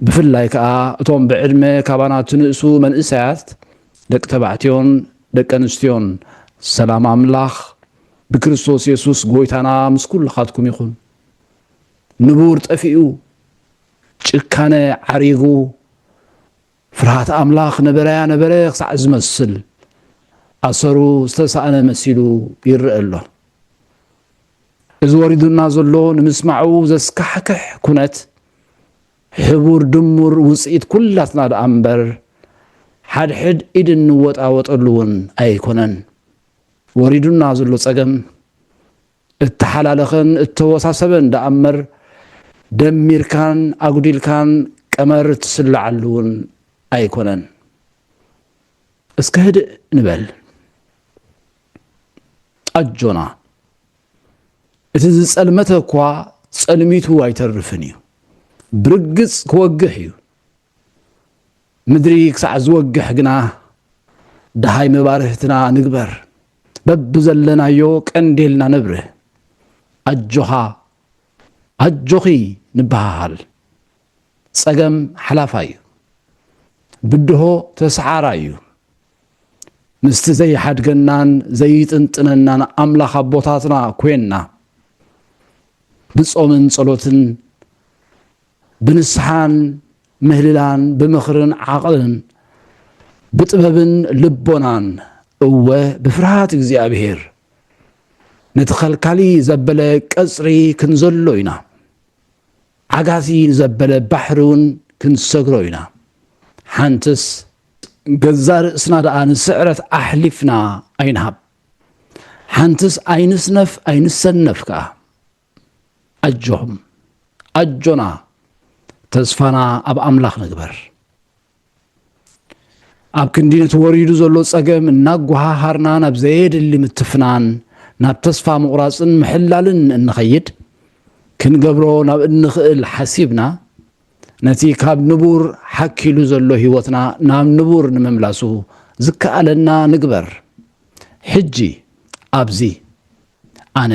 ብፍላይ ከኣ እቶም ብዕድመ ካባና ትንእሱ መንእሰያት ደቂ ተባዕትዮን ደቂ ኣንስትዮን ሰላም ኣምላኽ ብክርስቶስ የሱስ ጎይታና ምስ ኩልኻትኩም ይኹን። ንቡር ጠፊኡ ጭካነ ዓሪጉ ፍርሃት ኣምላኽ ነበረያ ነበረ ክሳዕ ዝመስል ኣሰሩ ዝተሳእነ መሲሉ ይረአ ኣሎ። እዚ ወሪዱና ዘሎ ንምስማዑ ዘስካሕክሕ ኩነት ሕቡር ድሙር ውፅኢት ኩላትና ደኣ እምበር ሓድሕድ ኢድ እንወጣወጠሉ እውን ኣይኮነን። ወሪዱና ዘሎ ፀገም እተሓላለኸን እተወሳሰበን ደኣ'ምበር ደሚርካን ኣጕዲልካን ቀመር እትስልዓሉ'ውን ኣይኰነን። እስከ ህድእ ንበል። ኣጆና፣ እቲ ዝጸልመተ እኳ ጸልሚቱ ኣይተርፍን እዩ፣ ብርግጽ ክወግሕ እዩ። ምድሪ ክሳዕ ዝወግሕ ግና ደሃይ መባርህትና ንግበር። በብዘለናዮ ቀንዴልና ነብርህ። ኣጆኻ ኣጆኺ ንበሃሃል። ጸገም ሓላፋይ እዩ። ብድሆ ተሰዓራይ እዩ። ምስቲ ዘይሓድገናን ዘይጥንጥነናን ኣምላኽ ኣቦታትና ኮንና ብጾምን ጸሎትን ብንስሓን ምህልላን ብምኽርን ዓቕልን ብጥበብን ልቦናን እወ ብፍርሃት እግዚኣብሔር ነቲ ኸልካሊ ዘበለ ቀጽሪ ክንዘሎ ኢና ዓጋቲ ንዘበለ ባሕሪ እውን ክንሰግሮ ኢና ሓንትስ ገዛ ርእስና ደኣ ንስዕረት ኣሕሊፍና ኣይንሃብ ሓንትስ ኣይንስነፍ ኣይንሰነፍ ከኣ ኣጆኹም ኣጆና ተስፋና ኣብ ኣምላኽ ንግበር ኣብ ክንዲ ነቲ ወሪዱ ዘሎ ጸገም እናጓሃሃርና ናብ ዘየድሊ ምትፍናን ናብ ተስፋ ምቑራፅን ምሕላልን እንኸይድ ክንገብሮ ናብ እንኽእል ሓሲብና ነቲ ካብ ንቡር ሓኪሉ ዘሎ ህይወትና ናብ ንቡር ንምምላሱ ዝከኣለና ንግበር ሕጂ ኣብዚ ኣነ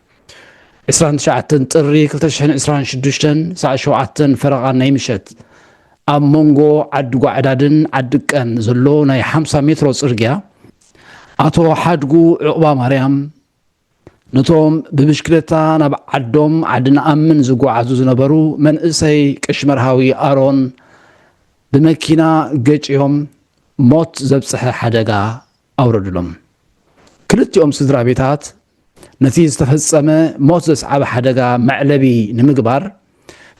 ዕስራን ትሽዓተን ጥሪ ክልተ ሽሕን ዕስራን ሽዱሽተን ሰዓት ሸውዓተን ፈረቓ ናይ ምሸት ኣብ መንጎ ዓዲ ጓዕዳድን ዓዲ ቀን ዘሎ ናይ ሓምሳ ሜትሮ ጽርግያ ኣቶ ሓድጉ ዕቑባ ማርያም ነቶም ብብሽክሌታ ናብ ዓዶም ዓዲ ንኣምን ዝጓዓዙ ዝነበሩ መንእሰይ ቀሺ መርሃዊ ኣሮን ብመኪና ገጭዮም ሞት ዘብጽሐ ሓደጋ ኣውረዱሎም። ክልቲኦም ስድራቤታት ነቲ ዝተፈጸመ ሞት ዘስዓበ ሓደጋ መዕለቢ ንምግባር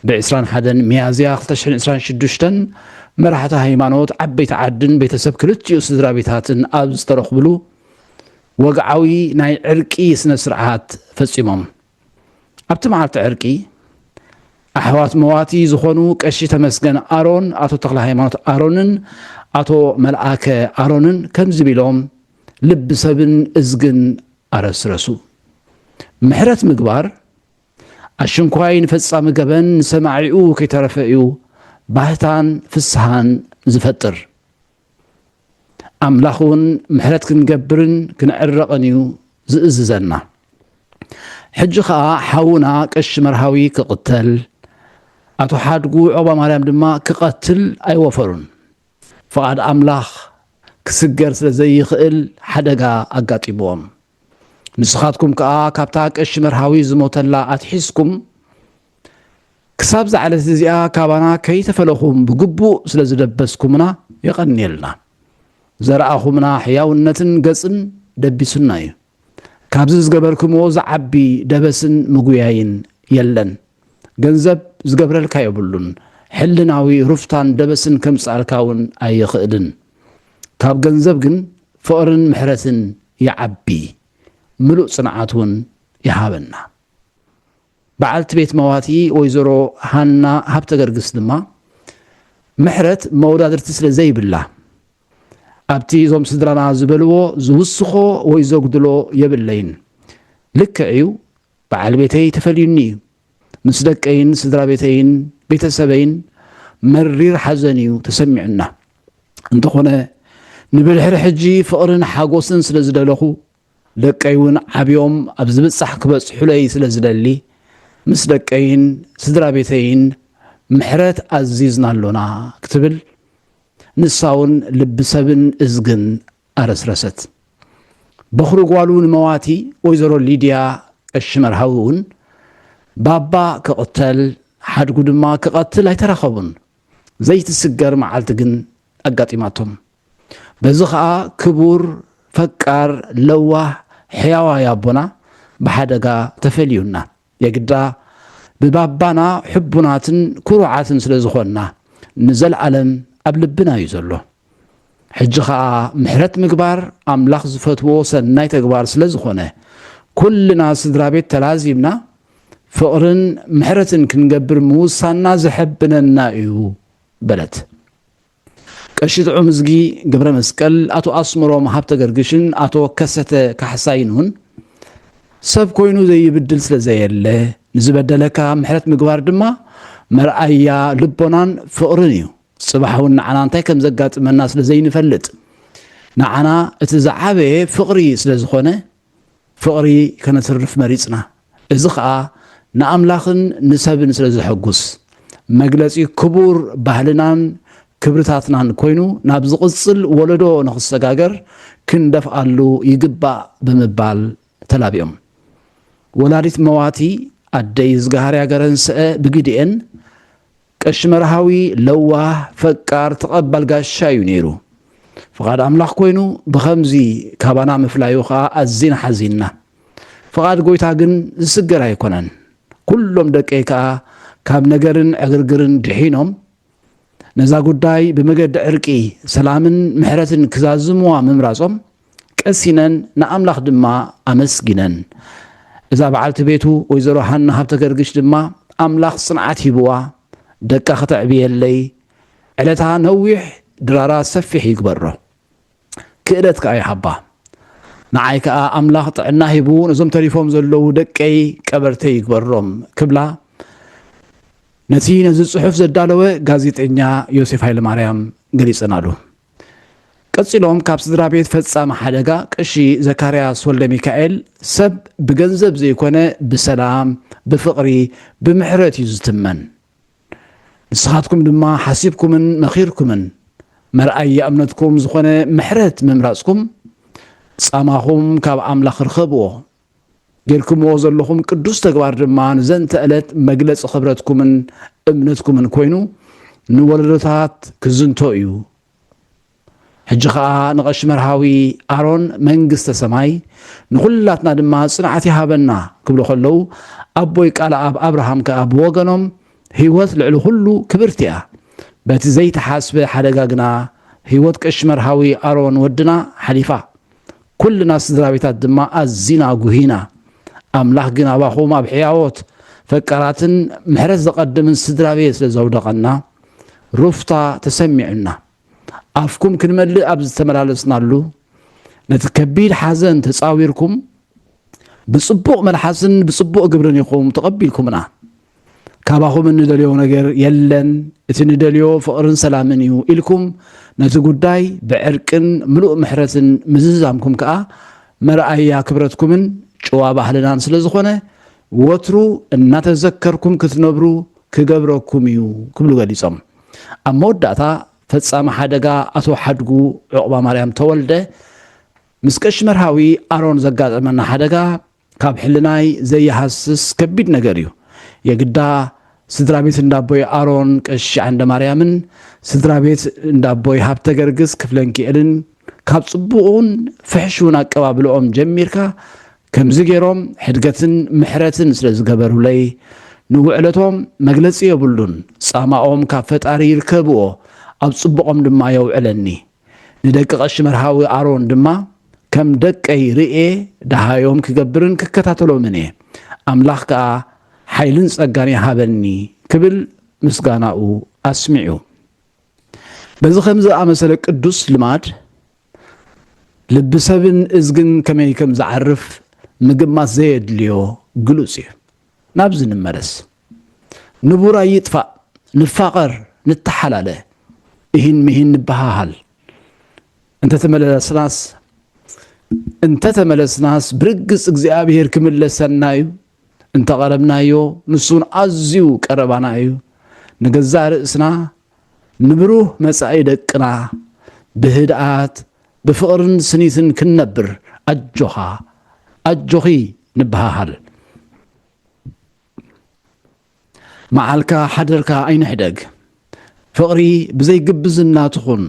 ብ ዕስራን ሓደን ሚያዝያ ክልተ ሽሕን ዕስራን ሽዱሽተን መራሕቲ ሃይማኖት ዓበይቲ ዓድን ቤተሰብ ክልቲኡ ስድራቤታትን ኣብ ዝተረኽብሉ ወግዓዊ ናይ ዕርቂ ስነ-ስርዓት ፈጺሞም። ኣብቲ መዓልቲ ዕርቂ ኣሕዋት መዋቲ ዝኾኑ ቀሺ ተመስገን ኣሮን፣ ኣቶ ተክለሃይማኖት ኣሮንን ኣቶ መልኣከ ኣሮንን ከምዚ ቢሎም ልቢ ሰብን እዝግን ኣረስረሱ። ምሕረት ምግባር ኣሽንኳይ ንፈጻሚ ገበን ንሰማዒኡ ከይተረፈ እዩ ባህታን ፍስሃን ዝፈጥር። ኣምላኽ እውን ምሕረት ክንገብርን ክንዕረቕን እዩ ዝእዝዘና። ሕጂ ኸኣ ሓውና ቀሺ መርሃዊ ክቕተል፣ ኣቶ ሓድጉ ዖባ ማርያም ድማ ክቐትል ኣይወፈሩን። ፍቓድ ኣምላኽ ክስገር ስለ ዘይኽእል ሓደጋ ኣጋጢምዎም። ንስኻትኩም ከኣ ካብታ ቀሺ መርሃዊ ዝሞተላ ኣትሒዝኩም፣ ክሳብዛ ዕለት እዚኣ ካባና ከይተፈለኹም ብግቡእ ስለ ዝደበስኩምና የቐንየልና። ዘረኣኹምና ሕያውነትን ገጽን ደቢሱና እዩ። ካብዚ ዝገበርክምዎ ዝዓቢ ደበስን ምጉያይን የለን። ገንዘብ ዝገብረልካ የብሉን። ሕልናዊ ሩፍታን ደበስን ከምጽኣልካ እውን ኣይኽእልን። ካብ ገንዘብ ግን ፍቕርን ምሕረትን ይዓቢ፣ ምሉእ ጽንዓት እውን ይሃበና። በዓልቲ ቤት መዋቲ ወይዘሮ ሃና ሃብተገርግስ ድማ፣ ምሕረት መወዳድርቲ ስለ ዘይብላ፣ ኣብቲ እዞም ስድራና ዝበልዎ ዝውስኾ ወይ ዘጉድሎ የብለይን። ልክዕ እዩ፣ በዓል ቤተይ ተፈልዩኒ እዩ። ምስ ደቀይን ስድራ ቤተይን ቤተሰበይን መሪር ሓዘን እዩ ተሰሚዑና። እንተኾነ ንብድሕሪ ሕጂ ፍቕርን ሓጎስን ስለ ዝደለኹ፣ ደቀይ እውን ዓብዮም ኣብ ዝብጻሕ ክበጽሑለይ ስለ ዝደሊ፣ ምስ ደቀይን ስድራ ቤተይን ምሕረት ኣዚዝና ኣሎና ክትብል ንሳውን ልቢ ሰብን እዝግን ኣረስረሰት። በዅሪ ጓሉ ንመዋቲ ወይዘሮ ሊድያ ቀሺ መርሃዊ እውን ባባ ክቕተል ሓድጉ ድማ ክቐትል ኣይተራኸቡን። ዘይትስገር መዓልቲ ግን ኣጋጢማቶም። በዚ ከኣ ክቡር፣ ፈቃር፣ ለዋህ፣ ሕያዋይ ኣቦና ብሓደጋ ተፈልዩና። የግዳ ብባባና ሕቡናትን ኩሩዓትን ስለ ዝኾንና ንዘልኣለም ኣብ ልብና እዩ ዘሎ። ሕጂ ከኣ ምሕረት ምግባር ኣምላኽ ዝፈትዎ ሰናይ ተግባር ስለ ዝኾነ ኩልና ስድራቤት ተላዚብና ፍቕርን ምሕረትን ክንገብር ምውሳንና ዘሐብነና እዩ በለት። ቀሺ ጥዑምዝጊ ገብረመስቀል፣ ኣቶ ኣስመሮም ሃብተገርግሽን ኣቶ ከሰተ ካሕሳይን'ውን ሰብ ኮይኑ ዘይብድል ስለ ዘየለ፣ ንዝበደለካ ምሕረት ምግባር ድማ መርኣያ ልቦናን ፍቕርን እዩ። ጽባሕ'ውን ንዓና እንታይ ከም ዘጋጥመና ስለ ዘይንፈልጥ፣ ንዓና እቲ ዝዓበየ ፍቕሪ ስለ ዝኾነ፣ ፍቕሪ ከነትርፍ መሪጽና፣ እዚ ኸኣ ንኣምላኽን ንሰብን ስለ ዘሐጕስ፣ መግለጺ ክቡር ባህልናን ክብርታትናን ኰይኑ ናብ ዝቕጽል ወለዶ ንኽሰጋገር ክንደፍኣሉ ይግባእ ብምባል ተላብዮም። ወላዲት መዋቲ ኣደ ይዝግሃርያ ገረንስአ ብግዲኤን፣ ቀሺ መርሃዊ ለዋህ፣ ፈቃር፣ ተቐባል ጋሻ እዩ ነይሩ። ፍቓድ ኣምላኽ ኮይኑ ብኸምዚ ካባና ምፍላዩ ኸኣ ኣዚና ሓዚንና። ፍቓድ ጎይታ ግን ዝስገር ኣይኮነን። ኩሎም ደቀይ ከኣ ካብ ነገርን ዕግርግርን ድሒኖም ነዛ ጉዳይ ብመገዲ ዕርቂ፣ ሰላምን ምሕረትን ክዛዝሙዋ ምምራጾም ቀሲነን ንኣምላኽ ድማ ኣመስጊነን። እዛ በዓልቲ ቤቱ ወይዘሮ ሃና ሃብተገርግሽ ድማ ኣምላኽ ጽንዓት ሂብዋ ደቃ ክተዕብየለይ ዕለታ ነዊሕ ድራራ ሰፊሕ ይግበሮ ክእለት ከኣ ይሃባ ንዓይ ከኣ ኣምላኽ ጥዕና ሂቡ ነዞም ተሪፎም ዘለዉ ደቀይ ቀበርተይ ይግበሮም ክብላ ነቲ ነዚ ጽሑፍ ዘዳለወ ጋዜጠኛ ዮሴፍ ሃይለማርያም ገሊጸናሉ። ቀጺሎም ካብ ስድራቤት ፈጻሚ ሓደጋ ቀሺ ዘካርያስ ወልደሚካኤል ሰብ ብገንዘብ ዘይኮነ ብሰላም ብፍቕሪ ብምሕረት እዩ ዝትመን ንስኻትኩም ድማ ሓሲብኩምን መኺርኩምን መርኣያ እምነትኩም ዝኾነ ምሕረት ምምራጽኩም ጻማኹም ካብ ኣምላኽ ርኸብዎ ጌርኩምዎ ዘለኹም ቅዱስ ተግባር ድማ ንዘንተ ዕለት መግለጺ ክብረትኩምን እምነትኩምን ኮይኑ ንወለዶታት ክዝንቶ እዩ። ሕጂ ከኣ ንቐሺ መርሃዊ ኣሮን መንግስተ ሰማይ ንኹላትና ድማ ጽንዓት ይሃበና ክብሉ ከለዉ ኣቦይ ቃል ኣብ ኣብርሃም ከኣ ብወገኖም ህይወት ልዕሊ ኩሉ ክብርቲ እያ በቲ ዘይተሓስበ ሓደጋ ግና ህይወት ቀሺ መርሃዊ ኣሮን ወድና ሓሊፋ ኩልና ስድራቤታት ድማ ኣዚና ጉሂና። ኣምላኽ ግን ኣባኹም ኣብ ሕያዎት፣ ፈቃራትን ምሕረት ዘቐድምን ስድራቤት ስለ ዘውደቐና ሩፍታ ተሰሚዑና። ኣፍኩም ክንመልእ ኣብ ዝተመላለስናሉ ነቲ ከቢድ ሓዘን ተጻዊርኩም ብጽቡቕ መልሓስን ብጽቡቕ ግብርን ኢኹም ተቐቢልኩምና። ካባኹም እንደልዮ ነገር የለን፣ እቲ ንደልዮ ፍቕርን ሰላምን እዩ ኢልኩም ነቲ ጉዳይ ብዕርቅን ምሉእ ምሕረትን ምዝዛምኩም ከኣ መርኣያ ክብረትኩምን ጭዋ ባህልናን ስለ ዝኾነ ወትሩ እናተዘከርኩም ክትነብሩ ክገብረኩም እዩ ክብሉ ገሊጾም። ኣብ መወዳእታ ፈጻሚ ሓደጋ ኣቶ ሓድጉ ዑቕባማርያም ተወልደ ምስ ቀሺ መርሃዊ ኣሮን ዘጋጠመና ሓደጋ ካብ ሕልናይ ዘይሃስስ ከቢድ ነገር እዩ የግዳ ስድራቤት እንዳቦይ ኣሮን ቀሺ ዓንደማርያምን ስድራቤት እንዳቦይ ሃብተገርግስ ክፍለንኪኤልን ካብ ጽቡቕን ፍሕሹን ኣቀባብልኦም ጀሚርካ ከምዚ ገይሮም ሕድገትን ምሕረትን ስለ ዝገበሩለይ ንውዕለቶም መግለጺ የብሉን ጻማኦም ካብ ፈጣሪ ይርከብዎ ኣብ ጽቡቖም ድማ የውዕለኒ ንደቂ ቐሺ መርሃዊ ኣሮን ድማ ከም ደቀይ ርእየ ደሃዮም ክገብርን ክከታተሎምን እየ፣ ኣምላኽ ከኣ ሓይልን ጸጋን ይሃበኒ ክብል ምስጋናኡ ኣስሚዑ። በዚ ከምዚ ዝኣመሰለ ቅዱስ ልማድ ልቢ ሰብን እዝግን ከመይ ከም ዝዓርፍ ምግማት ዘየድልዮ ግሉጽ እዩ። ናብዚ ንመለስ። ንቡራይ ይጥፋእ ንፋቐር ንተሓላለ እሂን ምሂን ንበሃሃል እንተተመለስናስ እንተተመለስናስ ብርግጽ እግዚኣብሔር ክምለሰና እዩ እንተቐረብናዮ ንሱን ኣዝዩ ቀረባና እዩ ንገዛ ርእስና ንብሩህ መጻኢ ደቅና ብህድኣት ብፍቕርን ስኒትን ክንነብር ኣጆኻ ኣጆኺ ንበሃሃል መዓልካ ሓደርካ ኣይንሕደግ ፍቕሪ ብዘይ ግብዝና ትኹን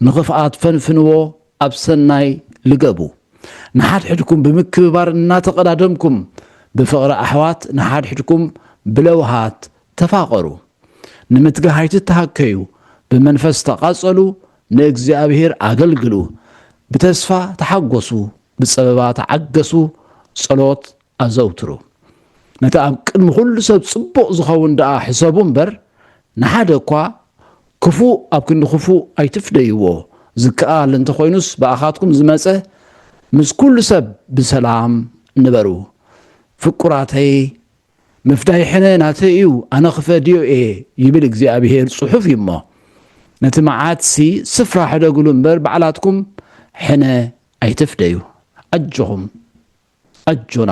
ንኽፍኣት ፈንፍንዎ ኣብ ሰናይ ልገቡ ንሓድሕድኩም ብምክብባር እናተቐዳደምኩም ብፍቕሪ ኣሕዋት ንሓድሕድኩም ብለውሃት ተፋቐሩ ንምትጋህ ኣይትተሃከዩ ብመንፈስ ተቓጸሉ ንእግዚኣብሔር ኣገልግሉ ብተስፋ ተሓጎሱ ብጸበባ ተዓገሱ ጸሎት ኣዘውትሩ። ነቲ ኣብ ቅድሚ ዅሉ ሰብ ጽቡቕ ዚኸውን ደኣ ሕሰቡ እምበር፣ ንሓደ እኳ ክፉእ ኣብ ክንዲ ኽፉእ ኣይትፍደይዎ፣ ዚከኣል እንተ ዀይኑስ ብኣኻትኩም ዝመጸ፣ ምስ ኵሉ ሰብ ብሰላም ንበሩ። ፍቁራተይ፣ ምፍዳይ ሕነ ናተይ እዩ፣ ኣነ ኽፈድዮ እየ ይብል እግዚኣብሄር ጽሑፍ እዩ እሞ፣ ነቲ መዓትሲ ስፍራ ሕደግሉ እምበር፣ ባዕላትኩም ሕነ ኣይትፍደዩ። ኣጆኹም! ኣጆና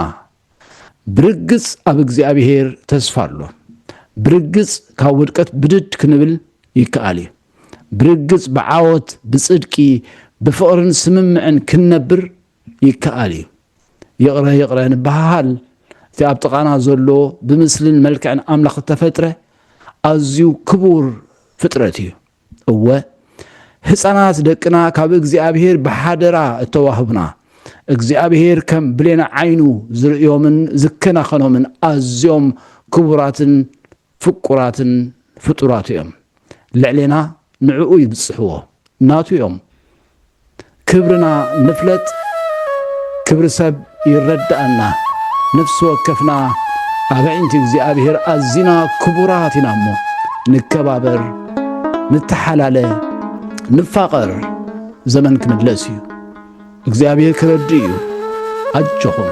ብርግጽ ኣብ እግዚኣብሄር ተስፋ ኣሎ ብርግጽ ካብ ውድቀት ብድድ ክንብል ይከኣል እዩ ብርግጽ ብዓወት ብጽድቂ ብፍቕርን ስምምዕን ክንነብር ይከኣል እዩ ይቕረ ይቕረ ንበሃሃል እቲ ኣብ ጥቓና ዘሎ ብምስልን መልክዕን ኣምላኽ እተፈጥረ ኣዝዩ ክቡር ፍጥረት እዩ እወ ህፃናት ደቅና ካብ እግዚኣብሔር ብሓደራ እተዋህቡና እግዚኣብሔር ከም ብሌነ ዓይኑ ዝርእዮምን ዝከናኸኖምን ኣዝዮም ክቡራትን ፍቁራትን ፍጡራት እዮም። ልዕሌና ንዕኡ ይብፅሕዎ ናቱ እዮም። ክብርና ንፍለጥ ክብሪ ሰብ ይረደኣና ነፍሲ ወከፍና ኣብ ኣዒንቲ እግዚኣብሔር ኣዚና ክቡራት ኢና እሞ ንከባበር ንተሓላለ ንፋቐር ዘመን ክምለስ እዩ እግዚኣብሔር ክረድእ እዩ ኣጆኹም